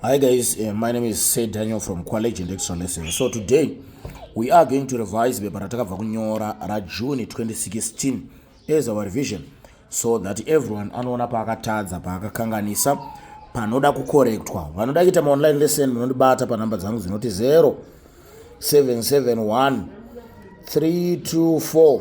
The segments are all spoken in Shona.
Hi guys, uh, my name is Sir Daniel from Quality Lecture Lesson. So today we are going to revise bepa ratakabva kunyora raJune 2016 as our revision so that everyone anoona paakatadza paakakanganisa panoda kukorektwa vanoda kuita maonline lesson munondibata panhamba dzangu dzinoti 0 771 324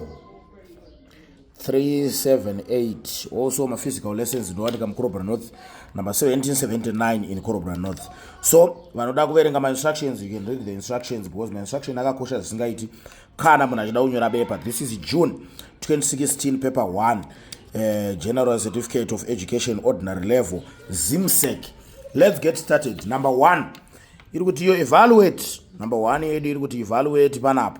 378 also maphysical lessons ndowanika mukorobra north number 1779 in korobra north so vanoda kuverenga mainstructions you can read the instructions because mainstruction akakosha zvisingaiti kana munhu achida kunyora bepa this is june 2016 paper 1 uh, eh, general certificate of education ordinary level zimsec let's get started number one iri kuti yo evaluate number one yedu iri kuti evaluate panapo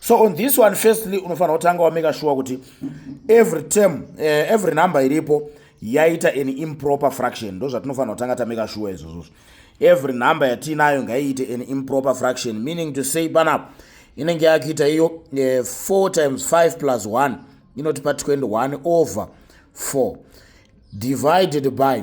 so on this one firstly unofanira kutanga wameka shuwa kuti every term uh, every number iripo yaita an improper fraction ndo zvatinofanira kutanga tameka shuwa izvozvozvo every number yatiinayo ngaiite an improper fraction meaning to say panapo inenge yakuita iyo uh, eh, 4 times 5 plus 1 inotipa 21 over 4 divided by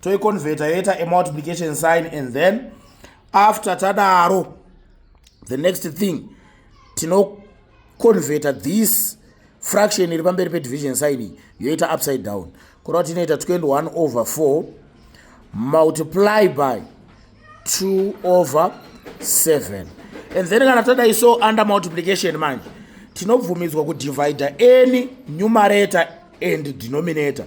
toiconverta yoita a multiplication sign and then after tadaro the next thing tinoconverta this fraction iri pamberi pedivision sign iyi yoita upside down kureva kuti inoita 21 over 4 multiply by 2 over 7 and then kana tadai so under multiplication manje tinobvumidzwa kudivida any numerator and denominator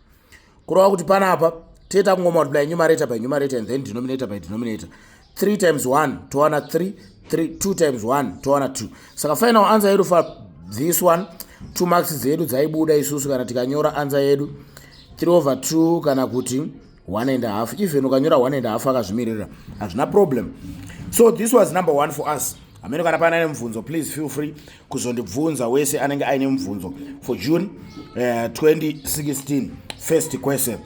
kureva kuti panapa toita kungomultiply numerator by numerator and then denominator by denominator 3 times 1 towana 3 2 times 1 towana 2 saka final answer yedu for this one two marks dzedu dzaibuda isusu kana tikanyora answer yedu 3 over 2 kana kuti 1 and a half even ukanyora 1 and a half akazvimiririra hazvina problem so this was number one for us amene kana paana nemubvunzo please feel free kuzondibvunza wese anenge aine mubvunzo for june uh, eh, 2016 first question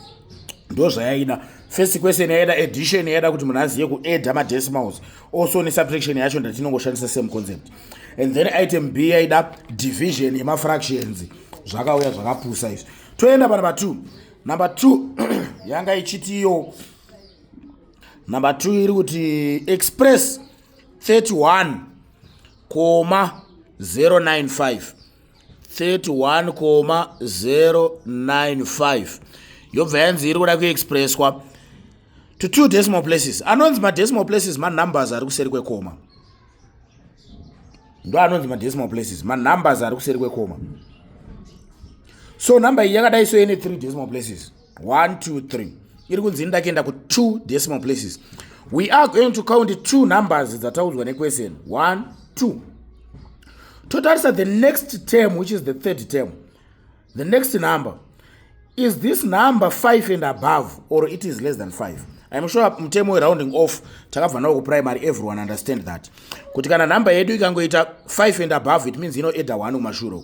ndo zvayaida first question yaida edition yaida kuti munhu azive kueda madecimals also nesubtraction yacho ndatinongoshandisa same concept and then item b yaida division yemafractions zvakauya zvakapusa izvi toenda panumber two number two yanga ichiti iyo number two iri kuti express 31 koma 095 31 koma 095 yobva yanzi iri kuda kuexpresswa to two decimal places anonzi madecimal places manumbers ari kuseri kwekoma ndo anonzi madecimal places manumbers ari kuseri kwekoma so number iyi yakadai so ine three decimal places 1 2 3 iri kunzi ini ndakienda ku two decimal places we are going to count two numbers dzataudzwa nequestion 1 2 totarisa the next term which is the third term the next number is this number 5 and above or it is less than 5 I'm sure mutemo werounding off takabva nawo kuprimary everyone understand that kuti kana number yedu ikangoita 5 and above it means inoeda 1 kumashure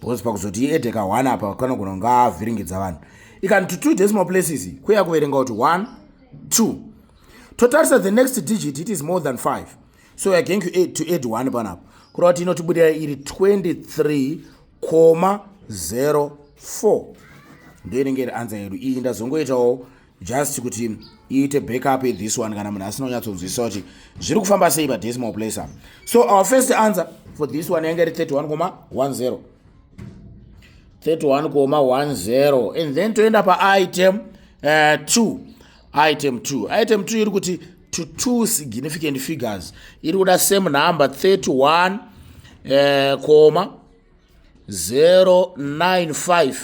because pakuzoti iede ka one apa kanogona kunga avhiringidza vanhu ikani to two decimal places kuya kuverenga kuti one two totarisa the next digit it is more than five so weare going to add one panapo kureva kuti inotibudira iri 23 koma 04 ndoinenge iri anza yedu iyi ndazongoitawo just kuti iite backup this one kana munhu asina kunyatsonzwisisa kuti zviri kufamba sei padecimal place apa so our first answer for this one yange iri 31 koma 10 31 koma 10 and then toenda paitem uh, 2 item 2 item 2 iri kuti to two significant figures iri kuda same number 31 uh, koma 095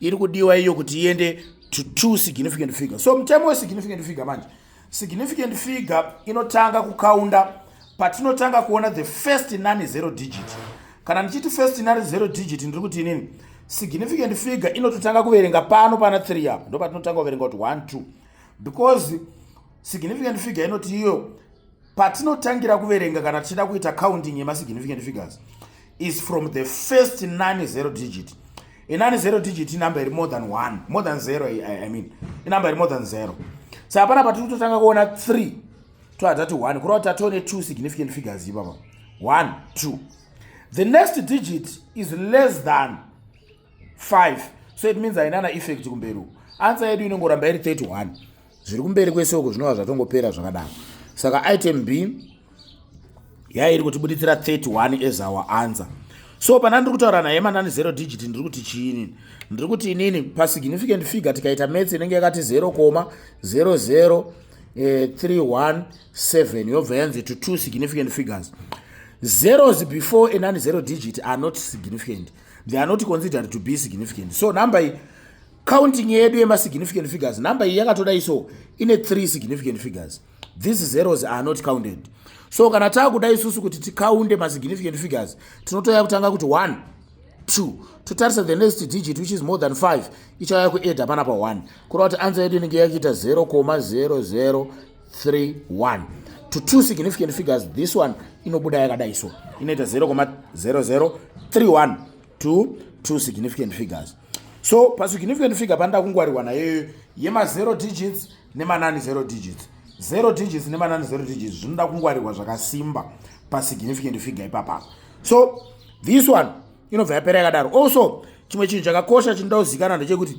iri kudiwa iyo kuti iende to two significant figure so mutemo wesignificant figure manje significant figure inotanga kukaunda patinotanga kuona the first nani zero digit kana ndichiti first nani zero digit ndiri kuti inini significant figure inototanga kuverenga pano pana 3 apo ndo patinotanga kuverenga kuti 1 2 because significant figure inoti iyo patinotangira kuverenga kana tichida kuita counting yemasignificant figures is from the first nine zero digit inani zero digit inumber iri more than one more than zero i mean inumber iri more than zero sa hapana patiri kutotanga kuona three toatati one kureva kuti tatione two significant figures ipapa one two the next digit is less than 5 so it means haina na effect kumberi uku answer yedu inongoramba iri 31 zviri kumberi kwese uku zvinova zvatongopera zvakadaro saka item b yairi kutibuditsira 31 as our answer so pana ndiri kutaura naye manani zero digit ndiri kuti chiinini ndiri kuti inini pasignificant figure tikaita mats inenge yakati 0 koma 00 317 eh, yobva yanzi to two significant figures zeros before anani zero digit are not significant they are not considered to be significant so number iyi counting yedu yemasignificant figures number iyi yakatodai so ine three significant figures these zeros are not counted so kana taakuda isusu kuti tikaunde masignificant figures tinotoya kutanga kuti one two totarisa the next digit which is more than five ichauya kueda pana pa one kureva kuti ansa yedu inenge yakuita zero koma zero zero 31 to two significant figures this one inobuda yakadai so inoita 0,0031 to two significant figures so pasignificant figure panoda kungwarirwa nayoyo yema0 digits nemanani 0 digits 0 digits nemanani 0 digits zvinoda kungwarirwa zvakasimba pasignificant figure ipapa so this one inobva yapera yakadaro also chimwe chinhu chakakosha chinoda kuzikana ndechekuti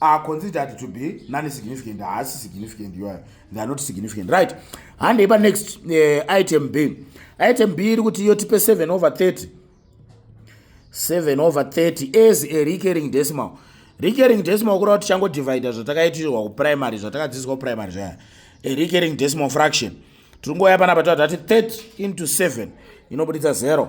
are considered to be non significant haasi significant iwayo they are not significant right handei pa next uh, item b item b iri kuti yotipe 7 over 30 7 over 30 as a recurring decimal recurring decimal kureva kuti changodivida zvatakaitirwa kuprimary zvatakadzidziswa kuprimary zvaya a recurring decimal fraction tiri ngoya panapa tati 30 into 7 inobuditsa 0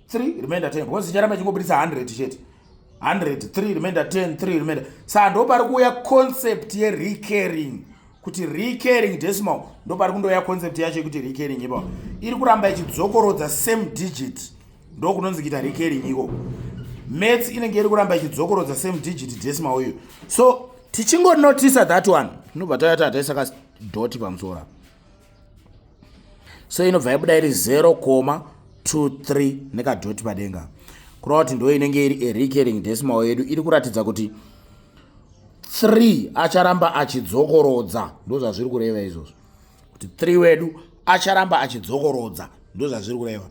3 remainder 10 because icharamba ichingobudisa 100 chete 100 3 remainder 10 3 remainder saa ndo pari kuuya concept yerecurring kuti recurring decimal ndo pari kundouya concept yacho yekuti recurring ipa iri kuramba ichidzokorodza same digit ndo kunonzi kuita recurring iko mats inenge iri kuramba ichidzokorodza same digit decimal uyu so tichingonotisa that one tinobva tayata taisaka doti pamusoro apa so inobva yabuda iri 0 koma 23 nekadhoti padenga kureva kuti ndo inenge iri erecurring decimal yedu iri kuratidza kuti 3 acharamba achidzokorodza ndo zvazviri kureva izvozvo kuti 3 wedu acharamba achidzokorodza ndo zvazviri kureva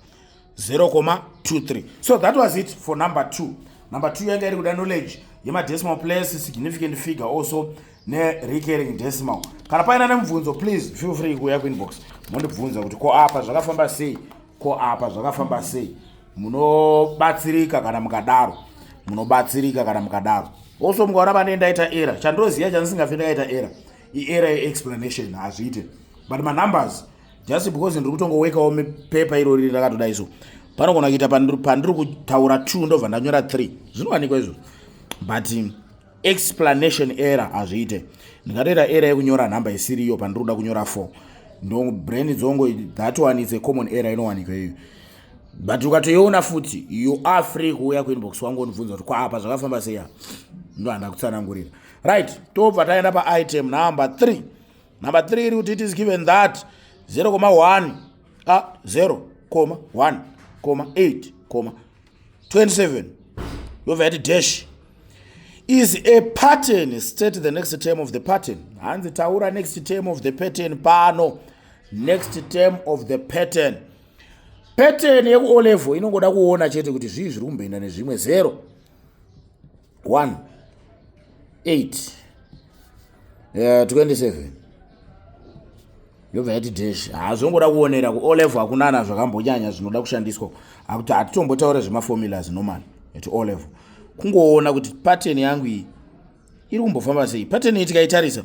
0,23 so that was it for number 2 number 2 yanga iri kuda knowledge yemadecimal place significant figure also nerecurring decimal kana paina nemubvunzo please feel free kuuya kuinbox mondibvunza kuti ko apa zvakafamba sei ko apa zvakafamba sei munobatsirika kana mukadaro munobatsirika kana mukadaro also mukaona pane ndaita era chandoziva chandisingafe ndakaita era iera yeexplanation hazviite but manumbers just because ndiri kutongowekawo paper iro riri rakatoda iso panogona kuita pandiri kutaura two ndobva ndanyora three zvinowanikwa izvo but explanation error hazviite ndingatoita error yekunyora nhamba isiri iyo pandiri kuda kunyora four ndo brain dzongo that one is a common error inowanikwa iyoyo but ukatoiona futi you are free kuuya kuinbox wangu unibvunza kuti kwaapa zvakafamba sei apa ndo handakutsanangurira right tobva taenda paitem number three number 3 iri kuti it is given that 0 koma 1 a 0 koma 1 koma 8 koma 27 yobva yati dash is a pattern state the next term of the pattern hanzi taura next term of the pattern pano next term of the pattern pattern yekuolevo inongoda kuona chete kuti zvii zviri kumboenda nezvimwe zero 1 8 uh, 27 yobva yati dash hazvongoda ah, kuonera ku olevo hakunana zvakambonyanya zvinoda kushandiswa akuti hatitombotaura zvemaformulas normal at olevo kungoona kuti pattern yangu iyi iri kumbofamba sei pattern iyi tikaitarisa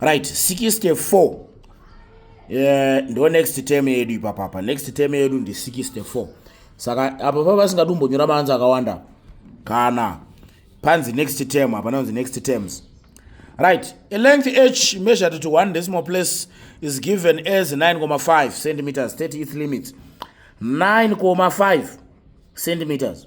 right 64 eh, ndo next term yedu ipapapa next term yedu ndi 64 saka apa pa vasingadi kumbonyora maanzi akawanda kana panzi next term hapana kunzi next terms right a length h measured to one decimal place is given as 9,5 centimeters 30th limits 9,5 centimeters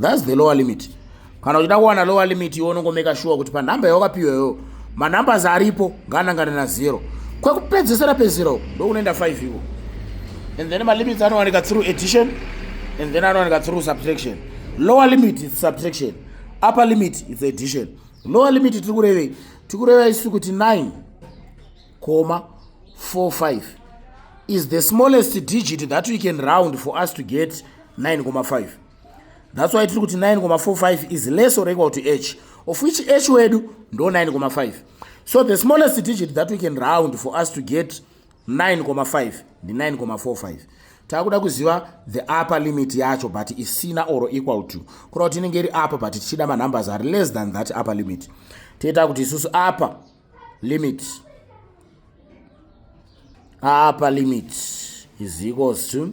thats the lower limit kana uchida kuwana lower limit iwe unongomeka shuwa kuti panhamba yawakapiwa iyoyo manumbers aripo ngaanangane nazero kwekupedzesera pezero ndokunoenda 5 iko and then malimits anowanika through addition and then anowanika through subtraction lower limit is subtraction upper limit is addition lower limit tiri kurevei tiri kureva isu kuti 9 comma 45 is the smallest digit that we can round for us to get 9 comma 5 thats why tiri kuti 9,45 is less or equal to h of which h wedu ndo 9,5 so the smallest digit that we can round for us to get 9,5 ndi 9,45 takuda kuziva the upper limit yacho but isina or equal to kura kuti inenge iri upper but tichida manumbers are less than that upper limit toita kuti isusu upper limit upper limit is equals to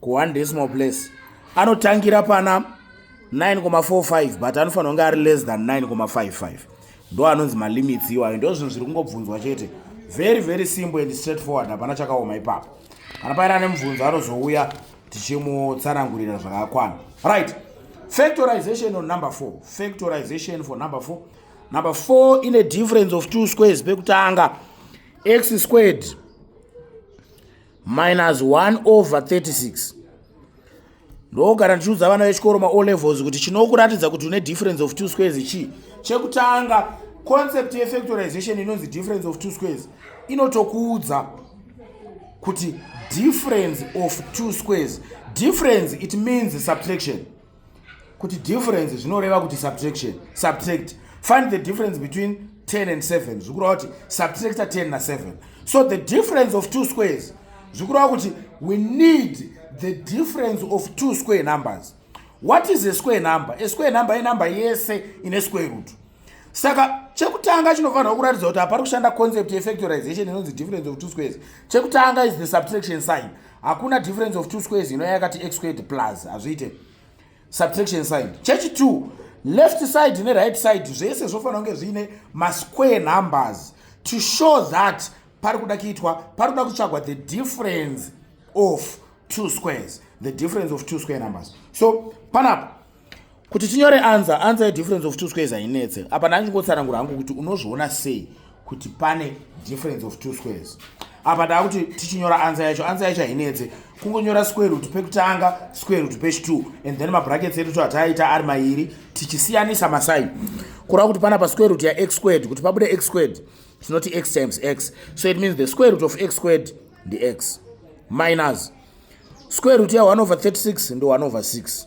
kuone decimal place anotangira pana 9,45 but anofanira kunge ari less than 9,55 ndo anonzi malimits iwayo ndo zvinhu zviri kungobvunzwa chete very very simple and straight forward hapana chakaoma ipapo kana paine ane mubvunzo anozouya tichimutsanangurira zvakakwana right factorization on number four factorization for number four number four ine difference of two squares pekutanga x squared minus 1 over 36 ndogara ndichiudza vana vechikoro ma o levels kuti chinokuratidza kuti une difference of two squares chii chekutanga concept yefactorization inonzi difference of two squares inotokuudza kuti difference of two squares difference it means subtraction kuti difference zvinoreva kuti subtraction subtract find the difference between 10 and 7 zvikureva kuti subtracta 10 na 7 so the difference of two squares zvikureva kuti we need the difference of two square numbers what is a square number a square number inumber yese ine square root saka chekutanga chinofanirwa kuratidza kuti hapari kushanda concept yefactorization inonzi difference of two squares chekutanga is the subtraction sign hakuna difference of two squares inoya yakati x squared plus hazviite subtraction sign chechi two left side neright side zvese zvofanira kunge zviine masquare numbers to show that pari kuda kuitwa pari kuda kutsvagwa the difference of two squares the difference of two square numbers so panapa kuti tinyore anza anza yedifference of two squares hainetse apa ndandingotsanangura hangu kuti unozviona sei kuti pane difference of two squares apa ndaa kuti tichinyora ansa yacho ansa yacho hainetse kungonyora square root pekutanga square root pechi2 and then mabrackets edu twataaita ari mairi tichisiyanisa masai kureva kuti pana pasquare root yax squared kuti pabude x squared tinoti x times x so it means the square root of x squared ndix minus square root ya 1 over 36 ndo 1 over 6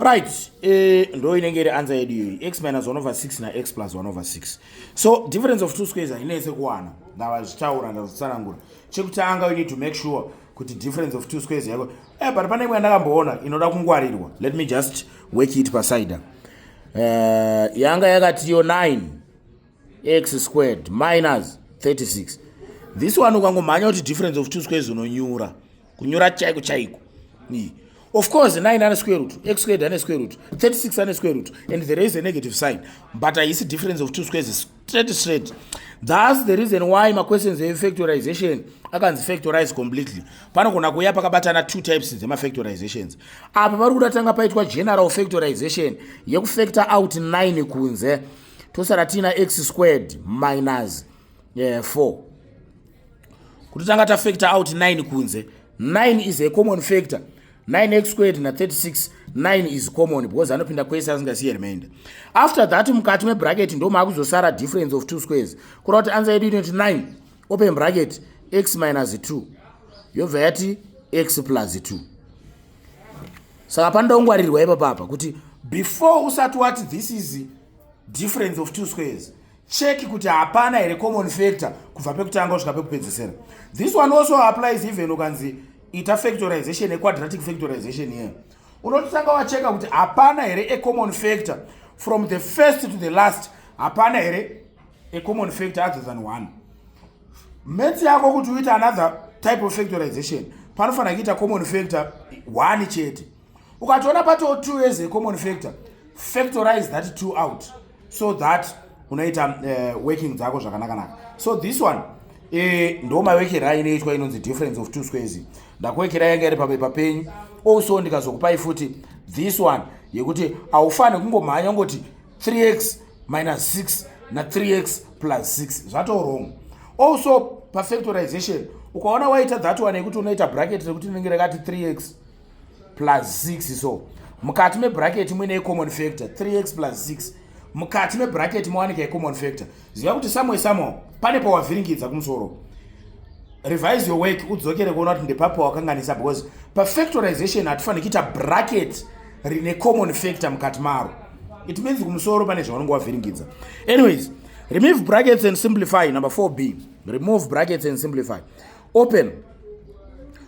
right eh, ndo inenge iri ansa yedu iyoyi x minus 1 over 6 nax plus 1 over 6 so difference of two squares hainese kuwana ndavazvitaura ndazvitsanangura chekutanga you need to make sure kuti difference of two squares yako eh, but pane imwe yandakamboona inoda kungwarirwa let me just work it pasida uh, eh, yanga yakatiyo 9 x squared minus 36 this one ukangomhanya kuti difference of two squares unonyura kunyora chaiko chaiko of course 9 ane square root x squared ane square root 36 ane square root and there is a negative sign but haisi difference of two squares is straight straight thus the reason why maquestions efactorization akanzi factorize completely panogona kuuya pakabatana two types dzemafactorizations apa pari kuda tanga paitwa general factorization yekufactor out 9 kunze tosara tiina x squared minus yeah, 4 kuti tanga tafactor out 9 kunze 9 is a common factor 9x squared na 36 9 is common because anopinda kwese asingasiye remainder after that mukati mebracket ndo maakuzosara difference of two squares kureva kuti ansa yedu inoti 9 open bracket x minus 2 yobva yati x plus 2 saka panoda kungwarirwa ipapapa kuti before usati wati this is difference of two squares check kuti hapana here common factor kubva pekutanga kusvika pekupedzisira this one also applies even ukanzi ita factorization equadratic factorization here unototanga wacheka kuti hapana here ecommon factor from the first to the last hapana here ecommon factor other than one mets yako kuti uite another type of factorization panofanira kuita common factor one chete ukatoona patoo two years ecommon factor factorize that two out so that unoita uh, working dzako zvakanakanaka so this one eh, ndo mawekera inoitwa inonzi difference of two squares ndakuwekera yanga iri papepa penyu also ndikazokupai futi this one yekuti haufani kungomhanya ungoti 3x minus 6 na 3x plus 6 zvatowrong also pafactorization ukaona waita that one yekuti unoita bracket rekuti rinenge rakati 3x plus 6 so mukati mebraketi muine icommon factor 3x plus 6 mukati mebraketi mowanika icommon factor ziva kuti samwe samwe pane pawavhiringidza kumusoro revise your work udzokere kuona kuti ndepapo wakanganisa because pafactorization hatifanire kuita bracket rine common factor mukati maro it means kumusoro pane zvaunenge wavhiringidza anyways remove brackets and simplify number 4b remove brackets and simplify open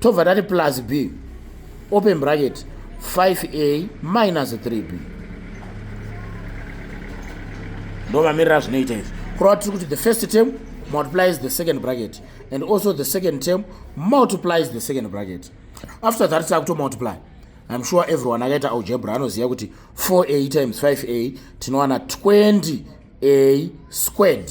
tobva tati plus b open bracket 5a minus 3b ndovamirira zvinoita izvi kurava tiri kuti the first term multiplies the second bracket and also the second term multiplies the second bracket after that takuto multiply im sure everyone akaita algebra anoziva kuti 4a times 5a tinowana 20a squared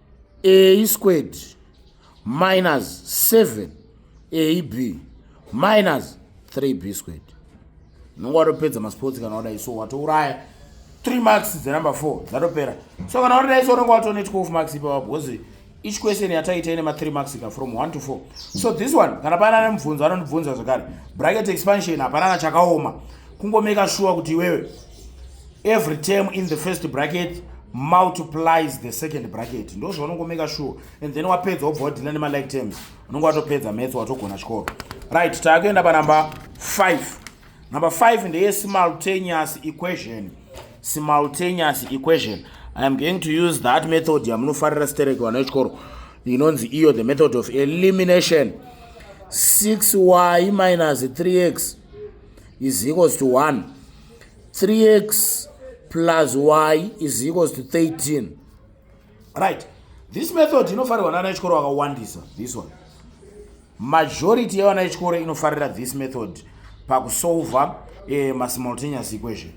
a squared minus 7 ab minus 3b squared unenge watopedza masports kana wadai so watouraya 3 marks dzenumber 4 dzatopera so kana wadai so unenge watone 12 marks ipapo because each question yataita ine ma3 marks ka from 1 to 4 so this one kana paana ane mubvunzo anondibvunza zvekare bracket expansion hapana kachakaoma kungomeka shuwa kuti iwewe every term in the first bracket multiplies the second bracket ndo zvaunongomeka sure and then wapedza wobva wadhina nemalike terms unonge watopedza metso watogona chikoro right taakuenda panumber 5 number 5 ndeye simultaneous equation simultaneous equation i am going to use that method yamunofarira sterek vana vechikoro inonzi iyo the method of elimination 6y minus 3x is equals to 1 3x plus y is equals to 13 right this method inofarirwa nana echikoro vakawandisa this one majority yevana echikoro inofarira this method pakusolva eh, masimultaneous equation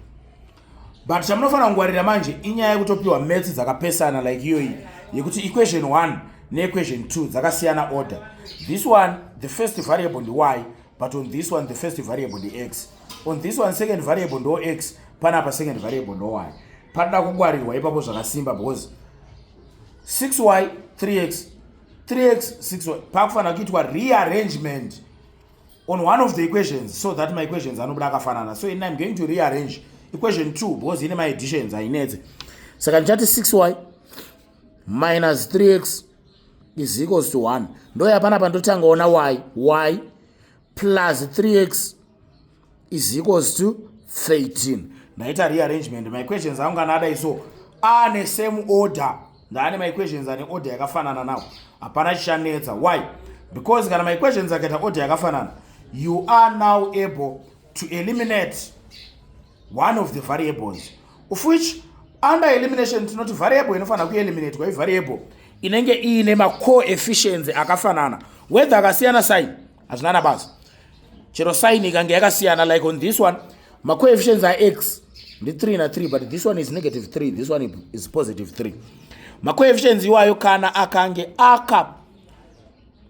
but chamunofanira kungwarira manje inyaya yekutopiwa maths dzakapesana like iyoyi yekuti equation 1 neequation 2 dzakasiyana order this one the first variable ndy but on this one the first variable ndyx on this one second variable ndo x panapa second variable ndo y panoda kungwarirwa ipapo zvakasimba because 6y 3x 3x 6y pakufanira kuitwa rearrangement on one of the equations so that my equations anobuda akafanana so ini im going to rearrange equation 2 because ine maeditions hainetse saka ndichati 6y minus 3x is equals to 1 ndoya panapa ndotangaona y y plus 3x is equals to 13 ndaita rearrangement maequations angu kana adai so ane same order ndaane maequations ane order yakafanana nawo hapana chichanetsa why because kana maequations akaita order yakafanana you are now able to eliminate one of the variables of which under elimination tinoti variable inofanira kueliminatwa ivariable inenge iine macoefficiency akafanana whether akasiyana sign hazvina na basa chero sign ikange yakasiyana like on this one macoefficiency ax ndi 3 na 3 but this one is negative 3 this one is positive 3 macoefficiency iwayo kana akange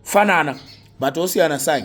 akafanana but osiyana sign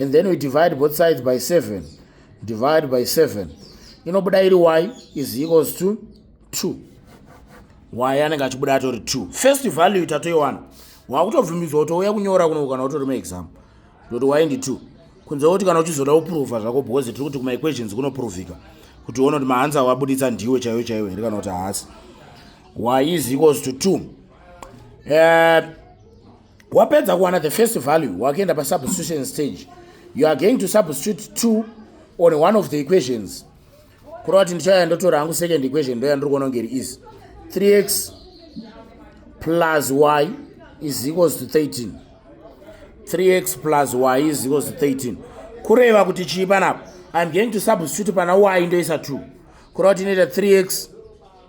and then we divide both sides by 7 divide by 7 inobuda iri y is equals to 2 y anenge achibuda atori 2 first value tatoiwana wakutobvumidzwa kuti ouya kunyora kuno kana utori maexam ndoti y ndi 2 kunze kuti kana uchizoda kuprova zvako because tiri kuti kumaequations kunoprovika kuti uone kuti mahanzi awabuditsa ndiwe chaiwo chaiwo here kana kuti haasi y is equals to 2 uh, eh, wapedza kuwana the first value wakuenda pasubstitution stage you are going to substitute two on one of the equations kureva kuti ndichaya ndotora hangu second equation ndoya ndiri kuona kunge iri easy 3x plus y is equals to 13 3x plus y is equals to 13 kureva kuti chii panapo iam going to substitute pana y ndoisa 2 kureva kuti inoita 3x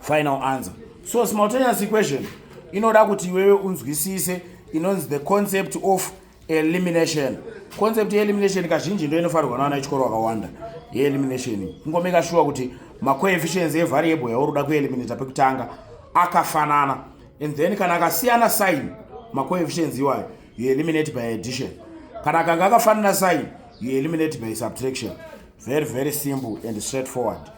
final answer so simultaneous equation inoda kuti iwewe unzwisise inonzi the concept of elimination concept yeelimination kazhinji ndo inofarirwa naana echikoro wakawanda yeelimination ingomeka shuwa kuti macoefficients evariable yauri uda kueliminata pekutanga akafanana and then kana akasiyana sign macoefficients iwayo you eliminate by addition kana akanga akafanana sign you eliminate by subtraction very very simple and straightforward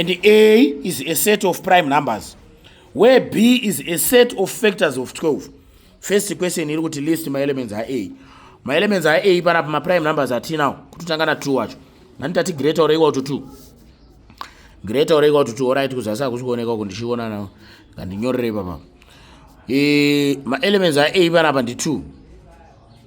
and a is a set of prime numbers where b is a set of factors of 12 first question iri kuti list maelements aa maelements aa panapa maprime numbers atinawo kutotanga na 2 wacho nanditati greater or equal to 2 greater or equal to 2 orit kuzasi hakusi kuoneka uku ndichiona nawo ngandinyorere ipapa e, maelements aa panapa ndi 2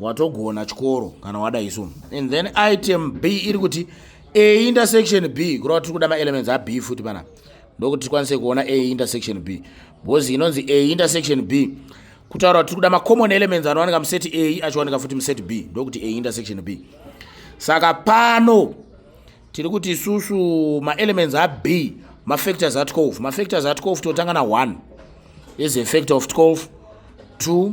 watogona chikoro kana wada isu and then item b iri kuti a intersection b kureva tiri kuda maelements ab futi pana ndokuti tikwanise kuona a intersection b because inonzi a intersection b kutaura kuti tiri kuda macommon elements anowanika museti a achiwanika futi museti b ndokuti a intersection b saka pano tiri kuti isusu maelements ab mafactors a12 mafactors a12 totanga na1 is a factor of 12 2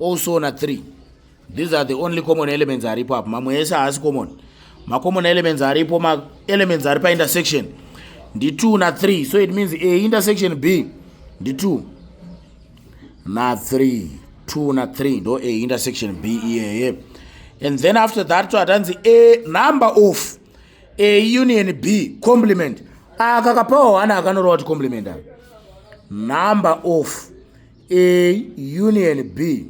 also na 3 these are the only common elements aripo apo mamwe ese haasi common macommon elements aripo maelements ari paintersection ndi 2 na 3 so it means a intersection b ndi 2 na 3 2 na 3 ndo a intersection b iyeye and then after that to atanzi a number of a union b complement akakapawo hana akanorova kuti complement number of A union B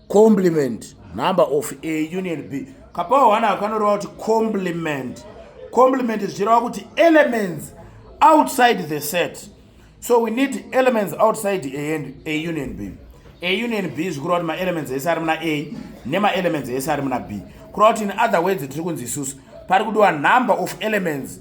complement number of A union B kapawo hwana akanoreva kuti complement complement zvichireva kuti elements outside the set so we need elements outside A and A union B A union B zvikureva kuti maelements ese ari muna A nemaelements ese ari muna B kureva kuti in other words tiri kunzi isusu pari kudiwa number of elements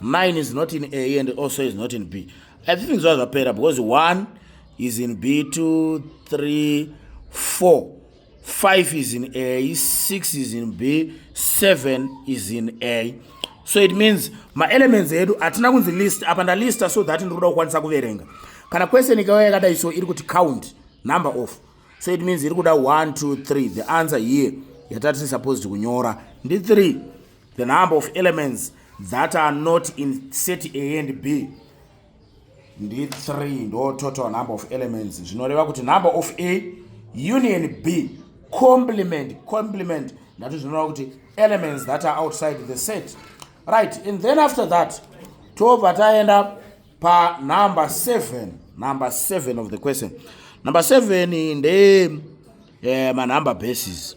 mine is not in a and also is not in b i think zva zvapera because one is in b two three four five is in a six is in b seven is in a so it means maelements edu hatina kunzi list apa ndalista so that ndiri kuda kukwanisa kuverenga kana question ikauya yakadai so iri kuti count number of so it means iri kuda 1 2 3 the answer here yatati supposed kunyora ndi 3 The number of elements that are not in set A and B ndi 3 ndo total number of elements zvinoreva kuti number of A union B complement complement ndati zvinoreva kuti elements that are outside the set right and then after that tobva taenda pa number 7 number 7 of the question number 7 ndeye eh, manumber bases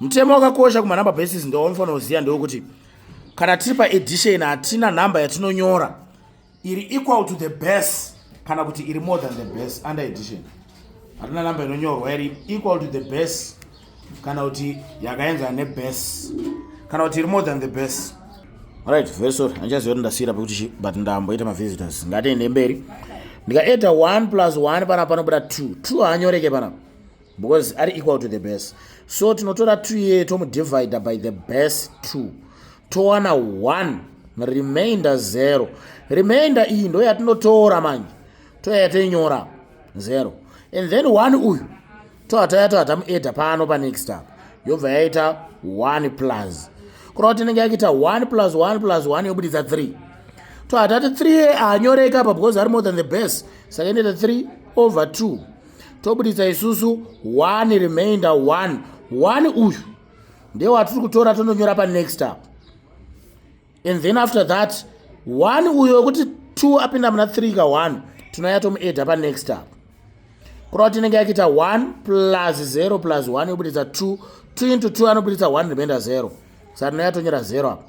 mutemo wakakosha kumanumber basis ndowaunofanira kuziva ndewokuti kana tiri paedition hatina number yatinonyora iri equal to the base kana kuti iri more than the base under edition hatina number inonyorwa iri equal to the base kana kuti yakaenzana nebase kana kuti iri more than the base right very sorry handichaziva kuti ndasiyira pekuti chi but ndamboita mavisitors ngatiende mberi ndikaeda 1 plus 1 panapa panobuda 2 2 haanyoreke panapa because ari equal to the base so tinotora two ye tomudivide by the base two towana one remainder zero remainder iyi ndo yatinotora manje toyaya toinyora zero and then one uyu toataya toa tamueda pano panext up yobva yaita one plus kurava kuti inenge yakuita one plus one plus one yobuditsa three toatati three ye anyoreka apa because ari more than the base saka inoita three over two tobuditsa isusu one remainder one one uyu ndewatiri kutora tondonyora panext up and then after that one uyo wekuti two apinda muna three ka one tinouya tomuedha panext up kurava tinenge yakiita one plus zero plus one yobuditsa two two into two anobuditsa one remainder zero saka tinouya tonyora zero apa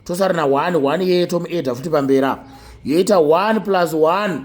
tosarina one one yeye tomuedha futi pamberi apa yoita one plus one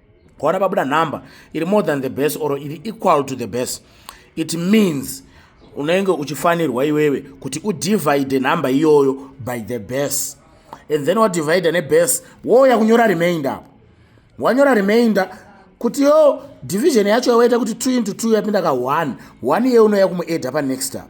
kwaona pabuda number iri more than the best or iri equal to the best it means unenge uchifanirwa iwewe kuti udivide number iyoyo by the best and then wadivide nebest wouya kunyora remainder apo wanyora remainder kuti yo division yacho yawaita kuti 2 into 2 yapinda ka 1 1 iye unoya kumueda panext apo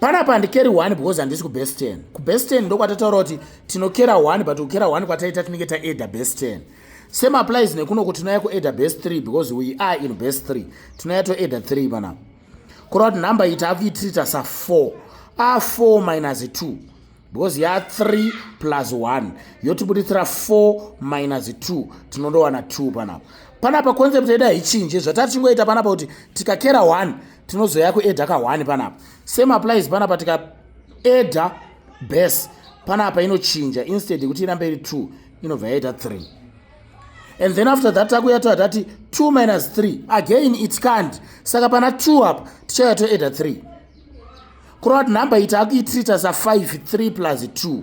panapa handikeri one because handisi kubest ten kubest ten ndokwatataura kuti tinokera one but kukera one kwataita tinenge taeda best ten same applies nekunoko tinouya kueda best three because we are in best three tinouya toeda three panapa kureva kuti number ita akuitirita sa four a four minus two because ya three plus one yotibuditsira four minus two tinondowana two panapa panapa concept yedu haichinje zvatati tingoita panapa kuti tikakera one tinozoya kueda kahwani panapa same applies panapa tika eda base panapa inochinja instead yekuti irambe iri two inobva yaita three and then after that takuya toa tati two minus three again it can't saka pana two apa tichauya toeda three kurova kuti number ita akuitrita sa five three plus two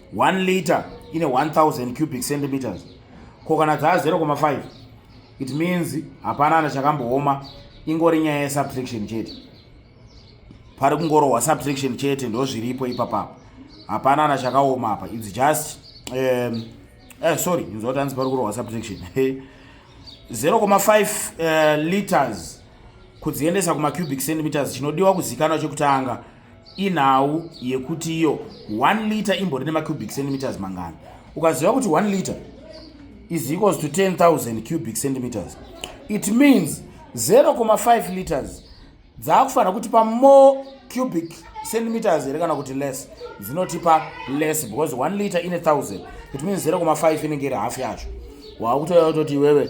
1 liter ine 1000 cubic centimeters ko kana dzaa 0,5 it means hapana ana chakambooma ingori nyaya yesubtraction chete pari kungorohwa subtraction chete ndozviripo ipapapa hapana ana chakaoma apa its just um, eh, sorry inzwa kuti hanzi pari kurohwa subtraction 0,5 uh, eh, liters kudziendesa kumacubic centimeters chinodiwa kuzikanwa chekutanga inhau yekuti iyo 1 liter imbori nemacubic centimeters mangani ukaziva kuti 1 liter is equals to 10000 cubic centimeters it means 0,5 liters dzaakufanira kutipa more cubic centimeters here kana kuti less dzinotipa less because 1 liter ine 1000 it means 0,5 inenge iri half yacho waakutoya kutoti iwewe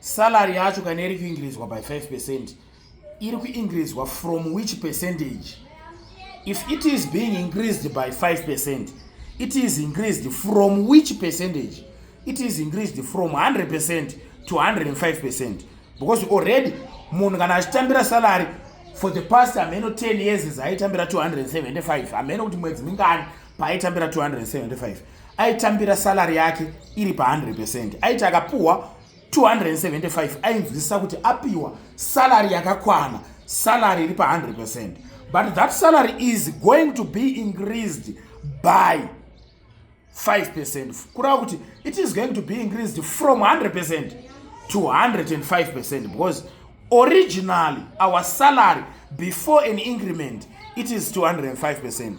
salary yacho kana iri kuingirezwa by 5 percent iri kuingirezwa from which percentage if it is being increased by 5 percent it is increased from which percentage it is increased from 100 percent to 105 percent because already munhu kana achitambira salary for the past ameno 10 years zaaitambira 275 ameno kuti mwedzi mingani paaitambira 275 aitambira salary yake iri pa 100 percent aiti akapuhwa 275 ainzwisisa kuti apiwa salary yakakwana salary iri pa 100 percent but that salary is going to be increased by 5 percent kureva kuti it is going to be increased from 100 percent to 105 percent because originally our salary before an increment it is 205 percent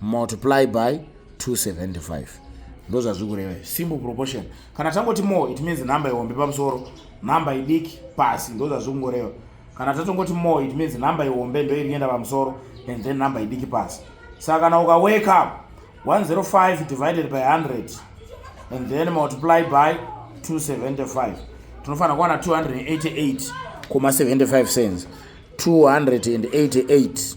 multiply by 275 ndozvazviri kureva simple proportion kana tangoti more it means number ihombe pamusoro number idiki pasi ndozvazviri kungoreva kana tatongoti more it means number ihombe ndo iri kuenda pamusoro and then number idiki pasi saka kana uka wake up 105 divided by 100 and then multiply by 275 tinofanira kuwana 288 koma 75 cents 288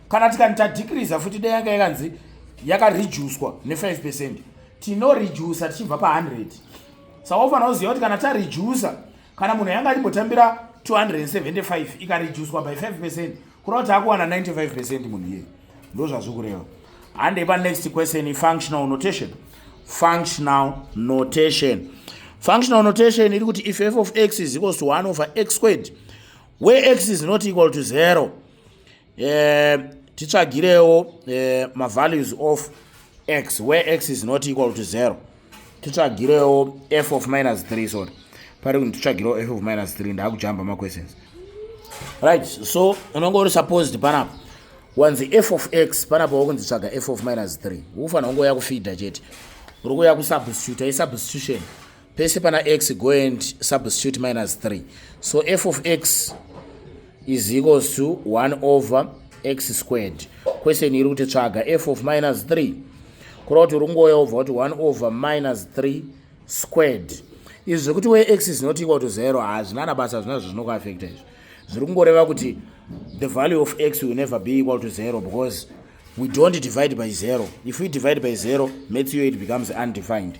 kana tikani tadhikiriza futi dai yanga yakanzi yakarejuswa ne5 percent tinorejusa tichibva pa100 saka ufanira kuziva kuti kana tarejusa kana munhu yanga arimbotambira 275 ikarejuswa by 5 percent kureva kuti akuwana 95 percent munhu iye ndo zvazviri kureva handei panext question ifunctional notation functional notation functional notation iri kuti if f of x is equals to 1 over x squared where x is not equal to 0 eh, titsvagirewo eh, mavalues of x where x is not equal to zero titsvagirewo f of minus 3 sorry pari kuti titsvagirewo f of minus 3 ndaakujamba maquestions right so unonge uri supposed panapa wanzi f of x panapa wakunzi tsvaga f of minus 3 ufanira kunge uya kufida chete uri kuya kusubstituta isubstitution pese pana x go and substitute minus 3 so f of x is equals to 1 over x squared question iri kuti tsvaga f of minus 3 kureva kuti uri kungoya obva kuti 1 over minus 3 squared izvi zvekuti we x is not equal to 0 hazvina na basa zvina zvo zvinokuafekta izvi zviri kungoreva kuti the value of x will never be equal to 0 because we don't divide by 0 if we divide by 0 maths yo it becomes undefined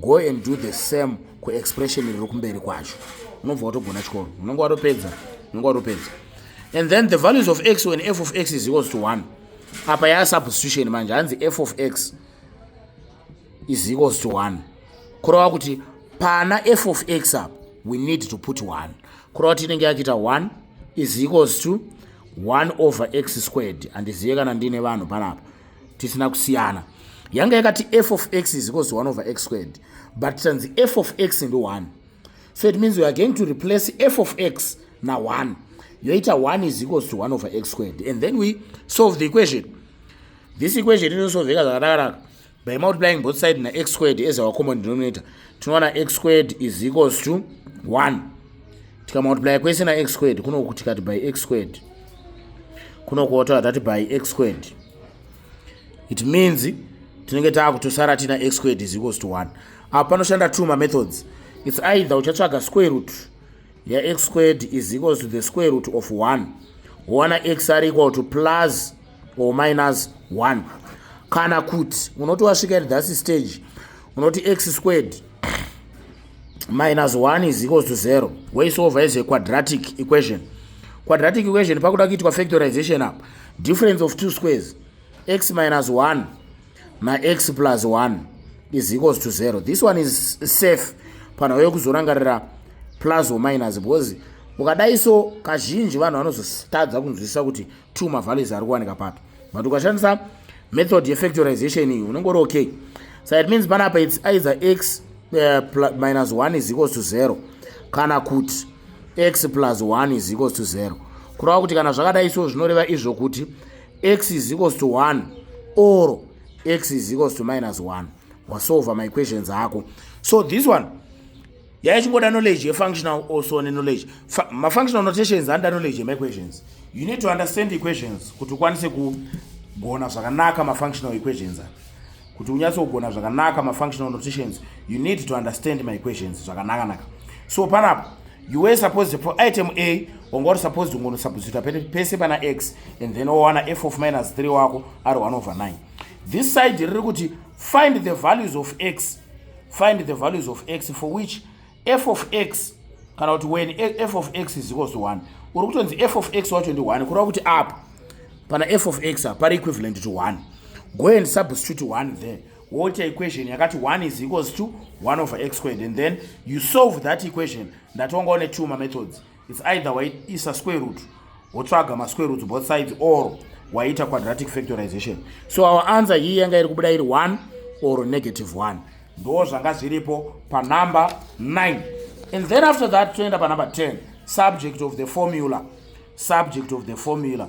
go and do the same kuexpression riri kumberi kwacho unobva watogona chikoro unenge watopedza unenge watopedza and then the values of x when f of x is equals to one apa yaa substitution manje hanzi f of x is equals to one kureva kuti pana f of x apa we need to put one kureva kuti inenge yakuita one is equals to one over x squared handizive kana ndiine vanhu panapa tisina kusiyana yanga yakati f of x is equals to 1 over x squared but tanzi f of x ndi 1 so it means we are going to replace f of x na 1 yoita 1 is equals to 1 over x squared and then we solve the equation this equation inosolveka zvakanakanaka by multiplying both side na x squared as our common denominator tinowana x squared is equals to 1 tikamultiply kwese na x squared kunokutikati by x squared kuno kuotaura tati by x squared it means tinenge taakutosara tina x squared is equals to 1 apa panoshanda two mamethods its either uchatsvaga square root yax squared is equals to the square root of 1 wowana x ari equal to plus or minus 1 kana kuti unoti wasvika at thus stage unoti x squared minus 1 is equals to 0 woisolva as a quadratic equation quadratic equation pakuda kuitwa factorization apa difference of two squares x minus 1 nax plus 1 is equals to 0 this one is safe panhau yekuzorangarira plus or minus because ukadai so kazhinji vanhu vanozotadza kunzwisisa kuti two mavalues ari kuwanika papi but ukashandisa method yefactorization iyi unenge uri okay so it means panapa its either x uh, plus, minus 1 is equals to 0 kana kuti x plus 1 is equals to 0 kureva kuti kana zvakadai so zvinoreva izvo kuti x is equals to 1 or x is equals to minus 1 wasolva maequations ako so this one yaya chingoda knowledge yefunctional also neknowledge mafunctional notations anoda knowledge yemaequations you need to understand equations kuti ukwanise kugona zvakanaka mafunctional equations kuti unyatse kugona zvakanaka mafunctional notations you need to understand maequations zvakanakanaka so panapo you were supposed for item a wanga uri supposed ungonosubstituta pese pana x and then wowana f of minus 3 wako ari 1 over 9 this side riri kuti find the values of x find the values of x for which f of x kana kuti when f of x is equals to 1 uri kutonzi f of x wacho ndi 1 kureva kuti apa pana f of x apa pari equivalent to 1 go and substitute 1 there woita equation yakati 1 is equals to 1 over x squared and then you solve that equation ndatonga one two mamethods its either waisa square root wotsvaga masquare roots both sides or waita quadratic factorization so our answer hii yanga iri kubuda iri 1 or negative 1 ndo zvanga zviripo panumber 9 and then after that toenda panumber 10 subject of the formula subject of the formula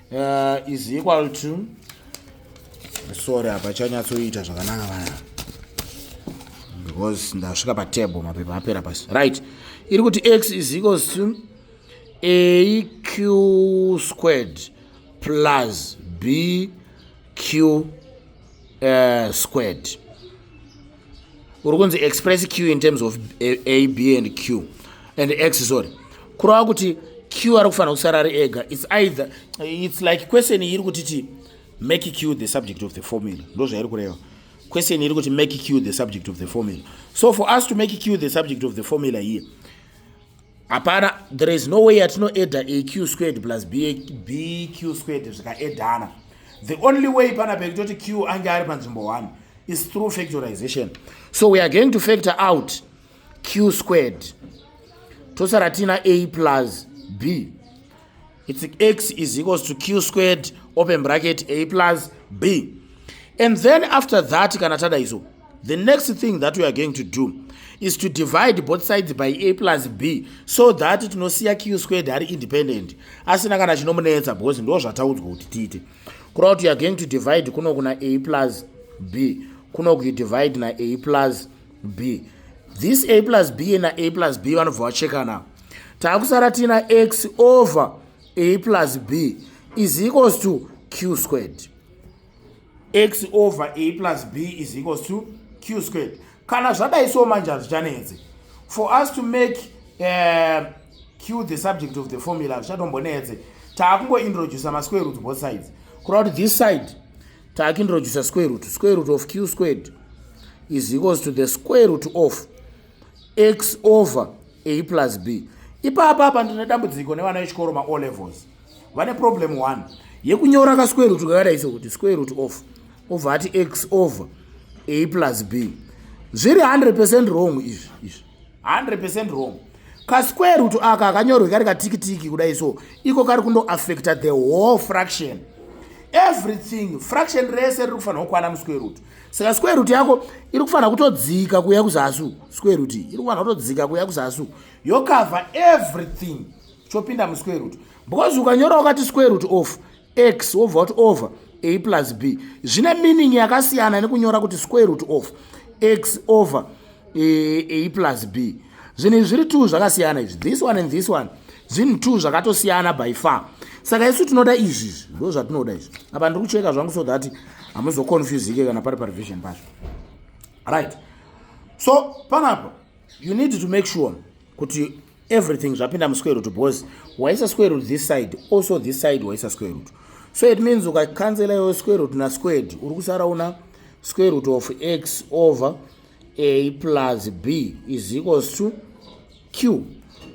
uh, is equal to sorry apa chanyatsoita zvakanaka vana because ndasvika patable mapepa apera pasi right iri kuti x is equals to aq squared plus bq uh, squared uri kunzi express q in terms of a b and q and x sorry kurava kuti q ari kufanira kusara ari ega its either its like question iri kutiti make q the subject of the formula ndo zvairi kureva question iri kuti make q the subject of the formula so for us to make q the subject of the formula here hapana there is no way yatinoedha aq squared plus bq squared zvikaedhana the only way pana pekutoti q ange ari panzvimbo one is through factorization so we are going to factor out q squared tosara tiina a plus b It's x is equals to q squared open bracket a plus b. And then after that, kana tada izo, the next thing that we are going to do is to divide both sides by a plus b so that tinosiya q squared hari independent asina kana chinomunetsa because ndo zvataudzwa kuti tiite kureva kuti youare going to divide kuno kuna a plus b kuno kuidivide na a plus b b this a plus b na a plus b vanobva vachekana takusara tiina x over a plus b is equals to q squared x over a plus b is equals to q squared kana zvadai so manje hazvichanetsi for us to make uh, q the subject of the formula zvichatombonetse taakungointroducer masquare roots both sides kureva kuti this side taakindrojusa square root square root of q squared is equals to the square root of x over a plus b ipapa apa ndine dambudziko nevana vechikoro mao levels vane problem one yekunyora ka square root kakadai sekuti square root of obva ati x over a plus b zviri 100 percent wrong izvi izvi 100% wrong kasquare root aka akanyorwe kari katikitiki kudai so iko kari kundoaffecta the whole fraction everything fraction rese riri kufanira kukwana musquare root saka square root yako iri kufanira kutodzika kuya kuzasu square root iri kufanira kutodzika kuya kuzasu yocover everything chopinda musquare root because ukanyora wakati square root off x wobva wati over a plus b zvine meaning yakasiyana nekunyora kuti square root of x over eh, a plus b zvinhu izvi zviri two zvakasiyana izvi this one and this one zvinhu two zvakatosiyana by far saka isu tinoda izvi izvi ndo zvatinoda izvi apa ndiri kucheka zvangu so that hamuzoconfusike kana pari parevision pacho right so panapa you need to make sure kuti everything zvapinda musquare root because waisa square root this side also this side waisa square root so it means ukacancela yo square root na squared uri kusara una square root of x over a plus b is equals to q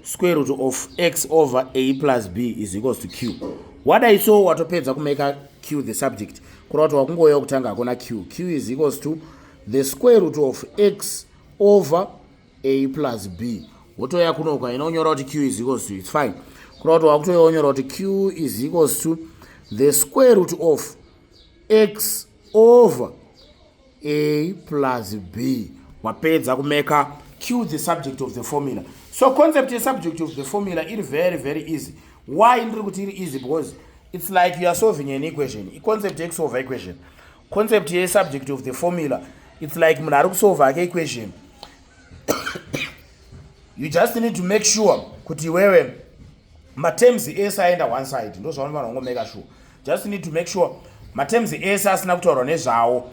square root of x over a plus b is equals to q wadai so watopedza kumeka q the subject kureva kuti wakungouya kutanga hakuna q q is equals to the square root of x over a plus b wotouya kuno uka inonyora kuti q is equals to its fine kuna kuti wakutouya wonyora kuti q is equals to the square root of x over a plus b wapedza kumeka q the subject of the formula so concept yesubject of the formula iri very very easy why ndiri kuti iri easy because it's like youare solving an equation iconcept yekusolva equation concept ye subject of the formula it's like munhu ari kusolve ake equation you just need to make sure kuti iwewe materms ese aenda one side ndo zvaunofana kungomeka sure just need to make sure materms ese asina kutaurwa nezvawo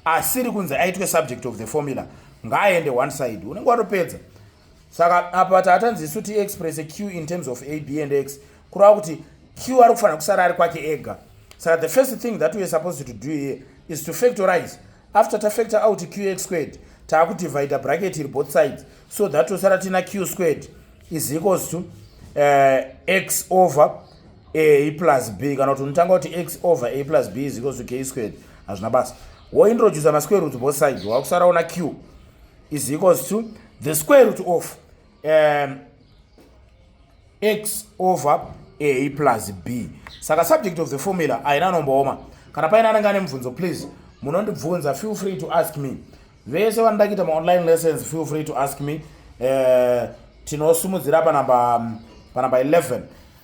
asiri kunzi aitwe subject of the formula ngaaende one side unenge watopedza saka apa taatanzi isu tiexpresse q in terms of a b and x kureva kuti q ari kufanira kusara ari kwake ega saka the first thing that weare supposed to do here is to factorize after tafactor out qx squared taakudivide bracket iri both sides so that tosara tina q squared is equals to uh, x over a plus b kana kuti unotanga kuti x over a plus b is equals to k squared hazvina basa wointroduce masquare roots both sides wakusara una q is equals to the square root of um, x over a plus b saka subject of the formula haina nombooma kana paine anenge ane mubvunzo please munondibvunza feel free to ask me vese vanoda kuita maonline lessons feel free to ask me uh, tinosimudzira panamba panamba 11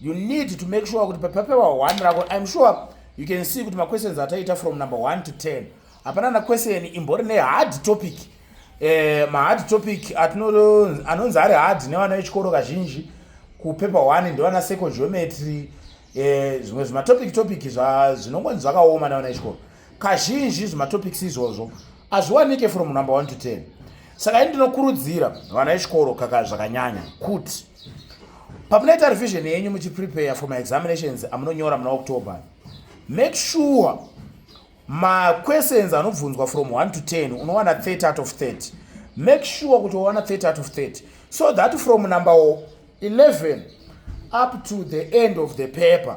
you need to make sure kuti papapewa 1 rako im sure you can see kuti maquestions ataita from number 1 to 10 hapana na question imbori nehard topic eh, mahard topic anonzi ari hard nevana vechikoro kazhinji kupepa 1 ndevana seco geometry eh, zvimwe zvimatopic topic zvinongonzi zvakaoma nevana vechikoro kazhinji zvimatopics izvozvo hazviwanike from number one to ten saka ini ndinokurudzira vana vechikoro kaka zvakanyanya kuti pamunoita revision yenyu muchiprepare for maexaminations amunonyora muna october make sure maquestions anobvunzwa from 1 to 10 unowana 30 out of 30 make sure kuti wawana 30 out of 30 so that from number 11 up to the end of the paper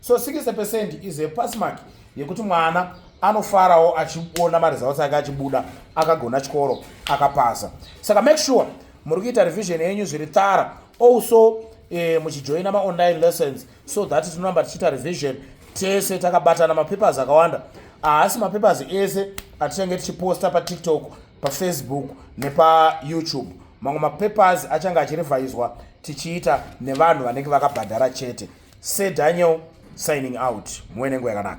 so 60 percent is a pass mark yekuti mwana anofarawo achiona maresults ake achibuda akagona chikoro akapasa saka make sure muri kuita revision yenyu zviri tara also eh, muchijoina maonline lessons so that tinoramba tichiita revision tese takabatana mapapers akawanda haasi mapapers ese atichange tichiposta patiktok pafacebook nepayoutube mamwe mapapers achange achirevhaizwa tichiita nevanhu vanenge vakabhadhara chete sedaniel signing out muwenengo yakanaka